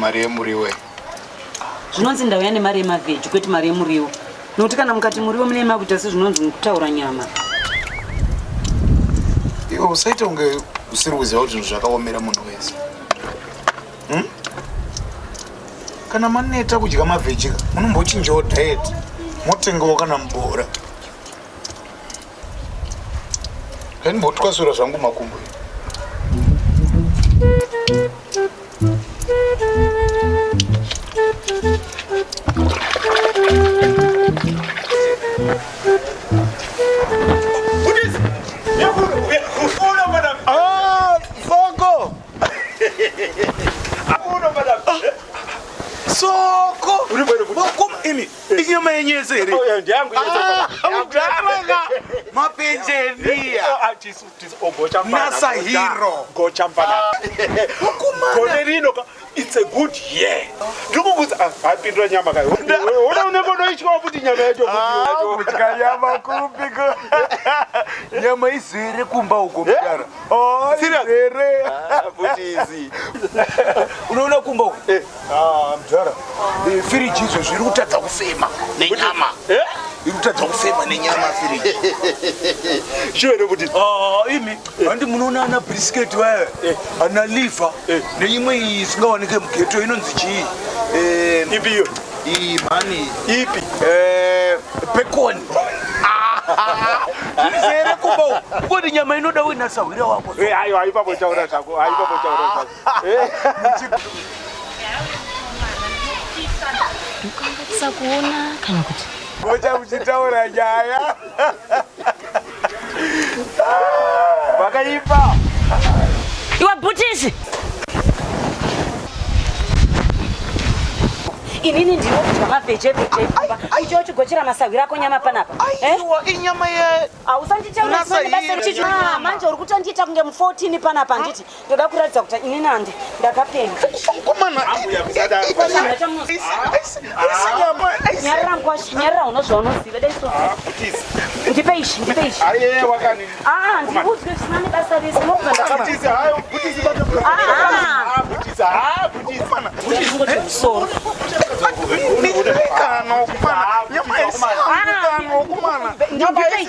mari yemuriwo zvinonzi ndauya nemari yemavheji kwete mari yemuriwo nokuti kana mukati muriwo mune makuita sezvinonzi mukutaura nyama iwe usaita kunge usiri kuziva kuti zvinhu zvakaomera munhu wese hmm? kana maneta kudya mavhejika munombochinjawo diet motengawo kana mubora Ndinotwasura zvangu makumbo. inyama yenyu yese here mapenjenia nasahiro gore rino it's a good year ndikukuza apindura nyama kayo ona unenge unoityawo kuti nyama yacho kudya nyama kupiko nyama izere kumba uko mudara izere unoona kumba uko Ah, mdhara eh, firiji izvo zviri kutadza kufema nenyama eh? iri kutadza kufema nenyama firiji chivere kuti ah, imi handi munoona ana brisketi vaya eh. ana liva neimwe iyi isingawanike mugeto inonzi chii ipi iyo iyi mhani ipi pekoni zvizere kumba uko kodi nyama inoda wina sahwira wako ayo aipapotaurazvako aipapotaurazvako Mukangatisa kuona kana kuti mocha muchitaura nyaya vakaipa iwe bhutisi inini ndiro kudya mavhejevheje icho chigochera masahwira ako nyama panapa eh? inyama ye hausanditaura manje uri kutondiita kunge mu14 panapa handiti ndoda kuratidza kuti ini nandi ndakapenga nyarira uno zvaunoziva dai so ndipe ishi ndipe ishi aa ndikuudzwe zvisina nebasa rese nobva ndakamusoro ndipei